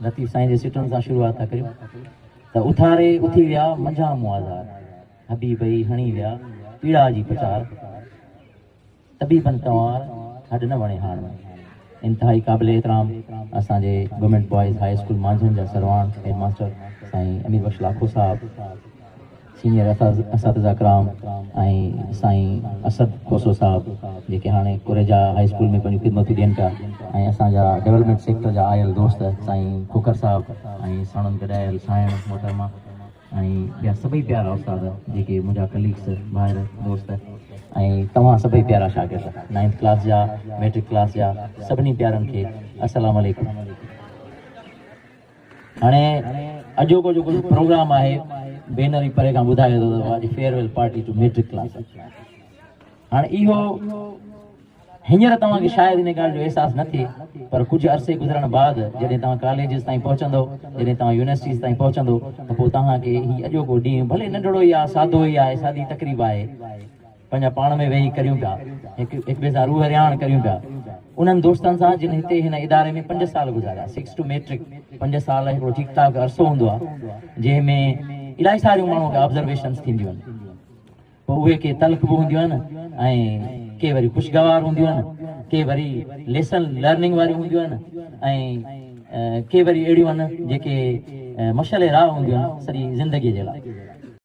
لطيف سائين جي سٽن سان شروعات ٿا ڪريون ته اٿاري اٿي ويا منجھا موازار حبيبئي هڻي ويا پيڙا جي پچار طبيبن ڪنوار هڏ نه وڻي هاڻ انتهائي قابل احترام اسان جي government boys high school Manjhan جا سرواڻ هيڊ ماستر سائين امير بخش لاکو صاحب سينئر اساتذه ڪرام ۽ سائين اسد کوسو صاحب جيڪي هاڻي ڪوريجا هاء اسڪول ۾ پنهنجون خدمتون ڏين پيا ۽ اسان جا ڊيولپمينٽ سيڪٽر جا آيل دوست سائين کوکر صاحب ۽ ساڻن گڏايل سانئڻ محترمه ۽ ٻيا سڀئي پيارا استاد جيڪي منهنجا ڪليگس ڀائر دوست ۽ توهان سڀئي پيارا شاگرد نائنٿ ڪلاس جا ميٽرڪ ڪلاس جا سڀني پيارن کي السلام عليڪم. هاڻي اڄوڪو جيڪو پروگرام آهي بينر ئي پري کان ٻڌائي ٿو ته اڄ farewell party to matric class هاڻي اهو هينئر توهان کي شايد ان ڳالهه جو احساس نه ٿئي پر ڪجهه عرصي گذرڻ بعد جڏهن توهان ڪاليجز تائين پهچندو جڏهن توهان يونيورسٽيز تائين پهچندو ته پوء توهان کي هي اڄوڪو ڏينهن ڀلي ننڍڙو ئي آهي سادو ئي آهي سادي تقريب آهي پنهنجا پاڻ ۾ ويهي ڪريون پيا، هڪ هڪ ٻئي سان روح رهاڻ ڪريون پيا. انهن دوستن سان جن هتي هن اداري ۾ پنج سال گذاريا، سڪس ٽو ميٽرڪ، پنج سال هڪڙو ٺيڪ ٺاڪ عرصو هوندو آهي، جنهن ۾ الائي ساريون ماڻهوء کي آبزرويشنس ٿينديون آهن. پوء اهي ڪي تلخ به هونديون آهن ۽ ڪي وري خوشگوار هونديون آهن، ڪي وري ليسن لرننگ واريون هونديون آهن ۽ ڪي وري اهڙيون آهن جيڪي مشعل راهه هونديون آهن سڄي زندگيء جي لاء.